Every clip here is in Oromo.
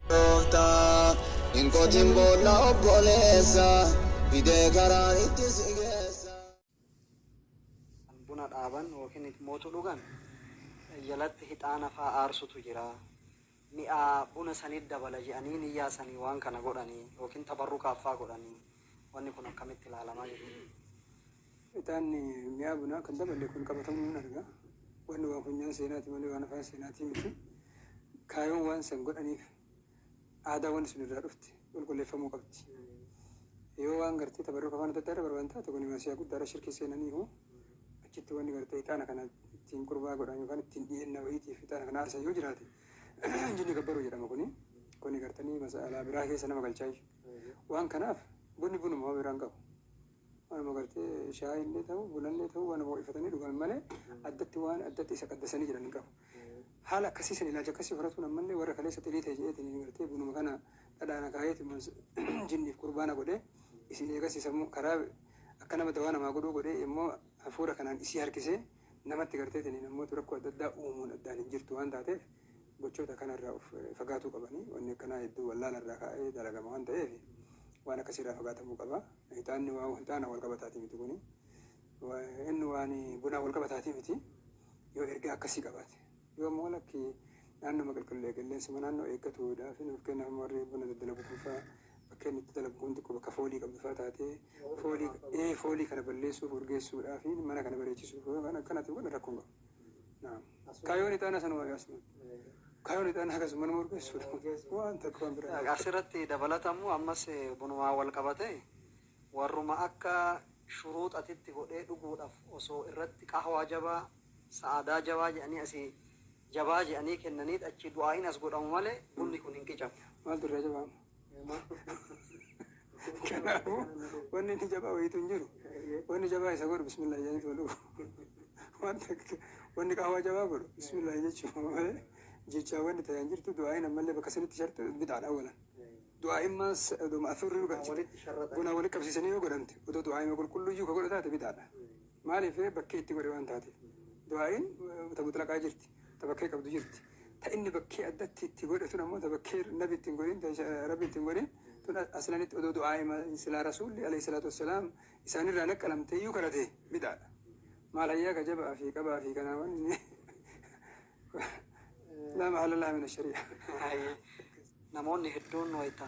Gooftaa hin qotin boolla obboleessa fidee karaan itti si geessa. Kan buna dhaaban ykn itmootu dhugan jalatti hixaana faa aarsutu jira. Mi'aa buna sanit dabala je'anii niyyaa sanii waan kana godhani ykn tabarrukaaf faa godhani. Wanni kun akkamitti ilaalamaa jechuudha. Ixaanni mi'aa bunaa kan dabale kun qabatamuu nan arga. Wanni waan funyaan seenaati malee waan afaan seenaatii miti. Kaayoon waan san godhaniif aadaa wanni sun irraa dhufte qulqulleeffamuu qabdi. Yoo waan gartee tabarruka afaan adda addaa irra barbaadan taate kuni masiyaa guddaadha shirkii seenaniihu achitti wanni gartee ixaana kana ittiin qurbaa godhan yookaan ittiin dhiyeenna wayiitiif ixaana kana aarsan yoo jiraate jinni gabbaruu jedhama kuni. Kuni gartanii mas'alaa biraa keessa nama galchaayyu. Waan kanaaf bunni bunuma homa biraa hin qabu. Waanuma gartee shaayii illee ta'u, buna illee ta'u waanuma ho'ifatanii dhugan malee addatti waan addatti isa qaddasanii jiran hin qabu. Haala akkasii san ilaalcha akkasii horatuun ammallee warra kaleessa xirii ta'e jedheetiin gartee bunuma kana dhadhaan akaayeetumaan jinniif qurbaana godhee isin eegasii sammuu karaa akka nama dawaa namaa godhuu godhee immoo hafuura kanaan isii harkisee namatti garteetiin namoota rakkoo adda addaa uumuun addaan hin jirtu waan taateef gochoota kanarraa of fagaatuu qabanii wanni akkanaa hedduu wallaalarraa kaa'ee dalagama waan ta'eef waan akkasiirraa fagaatamuu qaba. Hixaanni waan hixaana wal qabataatii miti kuni. Inni waan bunaa wal qabataatii miti. Yoo ergaa akkasii qabaate. Yoo immoo lakki naannoma qilqillee qilleensuma naannoo eeggatuudha. Fi nuuf kennaaf warri buna daddalagu kun fa'aa bakka inni itti dalagu kun xiqqoo bakka foolii qabdu fa'aa taatee foolii ee foolii kana balleessuuf urgeessuudhaa fi mana kana bareechisuuf waan akkanaatiin kun rakkoon qabu. Naam. Kayoon ixaana sanuma yaasmin. Kayoon ixaana akkasuma nama urgeessuudha. Waan takka waan biraa. Asirratti dabalatamu ammas bunumaan wal qabatee warruma akka shuruuxatitti godhee dhuguudhaf osoo irratti qahwaa jabaa, sa'aadaa jabaa jedhanii asii jabaa jedhanii kennaniit achii du'aa'iin as godhamu malee bunni kun hin qicamu. Maaltu irraa jabaa amma? Kanaafuu wanni inni jabaa wayiitu hin jiru. Wanni jabaa isa godhu bismillah jedhanii tuma dhufu. Waan takka wanni qahwaa jabaa godhu bismillah jechuudha malee jechaa wanni ta'e hin jirtu du'aayin ammallee bakka sanitti sharxu bid'aadha awwalan. Du'aayin maas odoo ma'asuurri dhugaa buna walitti qabsiisanii yoo godhamte odoo du'aayima qulqulluyyuu ka godhu taate bid'aadha. Maaliif ree? Bakkee itti godhe waan taateef. Du'aa'iin ta mutlaqaa jirti, ta bakkee qabdu jirti. Ta inni bakkee addatti itti godhe tun ammoo ta bakkee nabi itti hin godhin, ta rabbi itti hin godhin tun aslanitti odoo du'aa'ima silaa rasuulli aleyhi salaatu wassalaam isaanirraa naqqalamteeyyuu kadhate bid'aadha. Maal hayyaa ka jaba'aa fi qabaa fi kanaa waan inni laa mahala laha mina sharii'a. Namoonni hedduun wayta.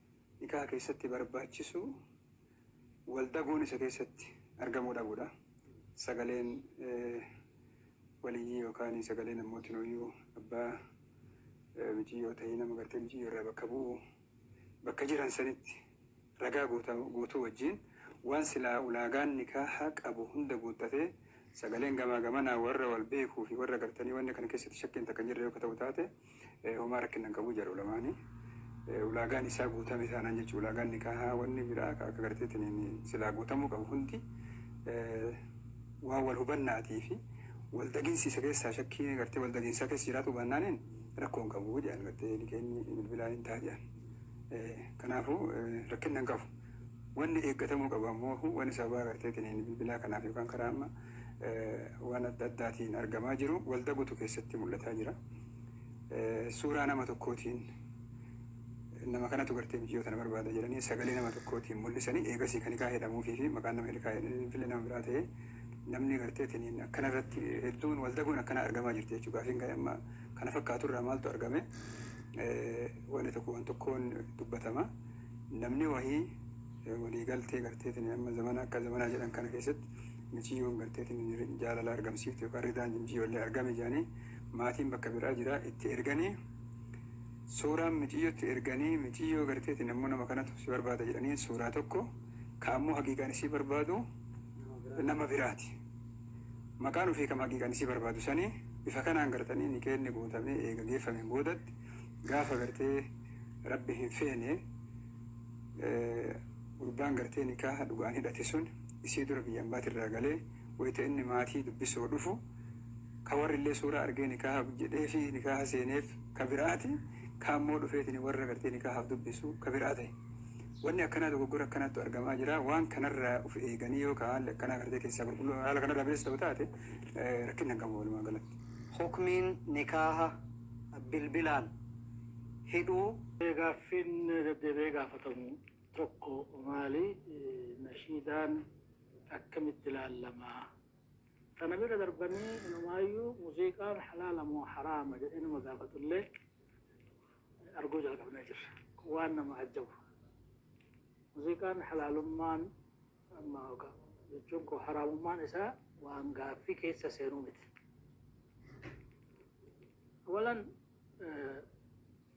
Nikaha keessatti barbaachisu wal daguun isa keessatti argamuu dhabuudha. Sagaleen waliyyii yookaan sagalee namooti nooyyuu abbaa miciyyoo ta'ee nama gartee miciyyoo irraa bakka bu'u bakka jiran sanitti ragaa guutuu wajjiin waan silaa ulaagaan nikaaha qabu hunda guuttatee sagaleen gamaa gamanaa warra wal beekuu fi warra gartanii wanni kana keessatti shakkiin takka hin jirre yoo ka ta'u taate homaa rakkinna hin qabu jara ulamaani ulaagaan isaa guutame taanaan jechuudha ulaagaan nikaahaa wanni biraa akka akka garteetiin silaa guutamuu qabu hundi waan wal hubannaatii fi wal daginsi isa keessaa shakkii gartee wal daginsaa keessa jiraatu baannaaniin rakkoo hin qabu jedhan gartee nikeenni bilbilaan hin ta'a jedhan kanaafuu rakkinna hin qabu wanni eeggatamuu qabu ammoo wanni sababaa garteetiin bilbilaa kanaaf yookaan karaa amma waan adda addaatiin argamaa jiru walda gutu keessatti mul'ataa jira. Suuraa nama tokkootiin nama kanatu gartee biyyoo tana barbaada jedhanii sagalee nama tokkootiin mul'isanii eegasii kan hikaa jedhamuufii fi maqaan nama hikaa jedhanii fille nama biraa ta'ee namni gartee tiniin akkana irratti hedduun walda guun akkana argamaa jirti jechuudha. Gaafiin kan amma kana fakkaatu irraa maaltu argame wanni tokko waan tokkoon dubbatama. Namni wahii waliigaltee gartee tiniin amma zamana akka zamanaa jedhan kana keessatti Miciyyoon garteetiin jaalala argamsiifte yookaan ridaan jimjiyyoollee argame jedhanii maatiin bakka biraa jira itti erganii suuraan miciyyotti erganii miciyyoo garteetiin ammoo nama kanatu si barbaada jedhanii suuraa tokko ka ammoo haqiiqaan isii barbaadu nama biraati. Maqaan ofii kam haqiiqaan isii barbaadu sanii bifa kanaan gartanii nikeenni guutamee eega geeffameen boodatti gaafa gartee rabbi hin feene Gurbaan gartee nikaaha dhugaan hidhate sun isii dura biyya ambaati irraa galee wayta inni maatii dubbisoo dhufu ka warri illee suuraa argee nikaaha jedheefi nikaaha seeneef ka biraati ka ammoo dhufeetini warra gartee nikaahaaf dubbisu ka biraa tahe. Wanni akkanaa dogoggora akkanaattu argamaa jira. Waan kanarraa uf eeganii yoo ka haalli akkanaa gartee keessaa qulqulluu haala kanarraa bilisa ta'u taate rakkinna hin qabu walumaa galatti. Hukmiin nikaaha bilbilaan hidhuu. Gaaffiin deddeebi'ee gaafatamu. tokko maali? Nashiidaan akkamitti ilaallama? Kana bira darbanii inumaayyuu muuziiqaan halaala moo haraama jedhee nama gaafatullee arguu jalqabnee jirra. Kun waan nama ajjabu. Muuziiqaan halaalummaan amma oga- jechuun koo haraamummaan isaa waan gaaffii keessa seenuu miti. Walan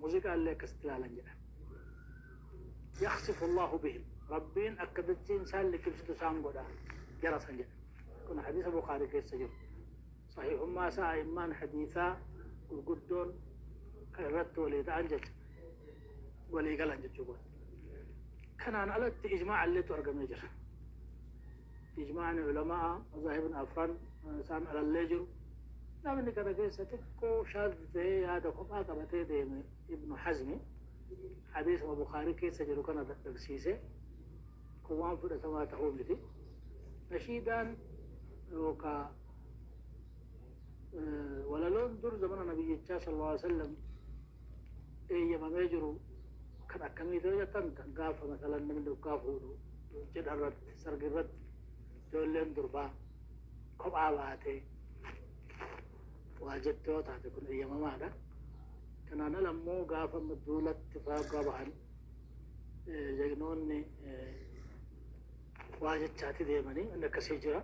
Muziqaa illee akkasitti laalan jedhan. Yakhsifu Allaahu bihim. Rabbiin akka dachiin isaan liqimsitu isaan godha jara san jedhan. Kun hadiisa Bukhaarii keessa jiru. Sahiihummaa isaa a'immaan hadiisaa gurguddoon kan irratti walii ta'an jecha walii galan jechuu godha. Kanaan alatti ijmaa'a illeetu argamee jira. Ijmaa'ni Ulama'aa Mazaahibni Afran isaan alallee jiru. Namni kana keessa xiqqoo shaadh ta'ee yaada kophaa qabatee deeme Ibnu Hazmi hadiisuma Bukhaarii keessa jiru kana dadhabsiise. Kun waan fudhatamaa ta'uu miti. Nashiidaan yookaa walaloon dur zamana Nabiyyichaa sallallahu alaihi wasallam eeyyamamee jiru kan akkamiiti yoo jettan gaafa masalan namni dhugaa fuudhu cidha irratti sargi irratti ijoolleen durbaa kophaa baatee waa jette yoo taate kun eeyyamamaadha. Kanaan ala immoo gaafa duulatti faagaa bahan jagnoonni waa jechaati deemanii inni akkasii jira.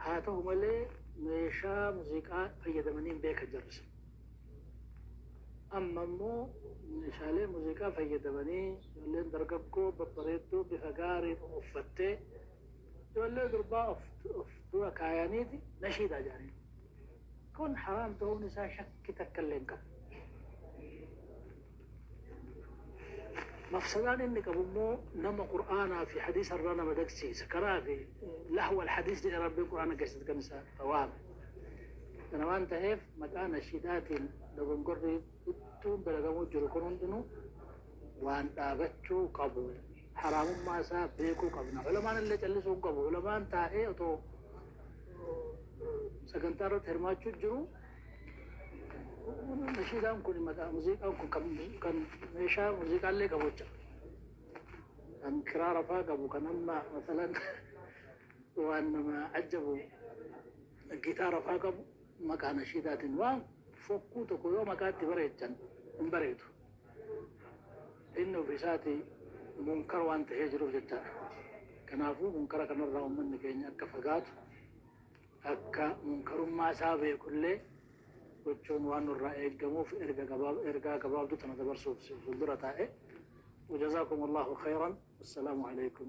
Haa ta'u malee meeshaa muuziqaa fayyadamanii hin beekan jarri sun. Amma immoo meeshaalee muuziqaa fayyadamanii ijoolleen dargaggoo babbareedduu bifa gaariin uffattee ijoollee durbaa of dura kaayaniiti nashiidaa jedhaniin. Kun haraam ta'uun isaa shakki takka illee hin qabu. Mafsadaan inni qabu immoo nama Qur'aanaa fi Hadiisa irraa nama dagsiisa. Kanaaf lahw al-hadiis jedhee Rabbiin Qur'aana keessatti kan isa waame. Kana waan ta'eef maqaa nashiidaatiin dogongorri hedduun dalagamuu jiru kun hundinuu waan dhaabachuu qabu. Haraamummaa isaa beekuu qabna. Ulamaan illee callisuu hin qabu. Ulamaan taa'ee otoo sagantaa irratti hirmaachuu jiru Nashiidaan kun maqaa muuziqaa kun kan, kan meeshaa muuziqaallee qabu jecha. Kan kiraara faa qabu kan amma masalan waan nama ajjabu gitaara faa qabu maqaa nashiidaatiin waan fokkuu tokko yoo maqaatti bareechan hin bareedu. Inni ofiisaati munkar waan ta'ee jiruuf jechaadha. Kanaafuu munkara kanarraa uummanni keenya akka fagaatu akka munkarummaa isaa beeku illee gochuun waan nurraa eeggamuuf erga gabaab ergaa gabaabduu tana dabarsuuf si fuuldura taa'e. Wajazaakum Allahu khayran. Assalaamu alaykum.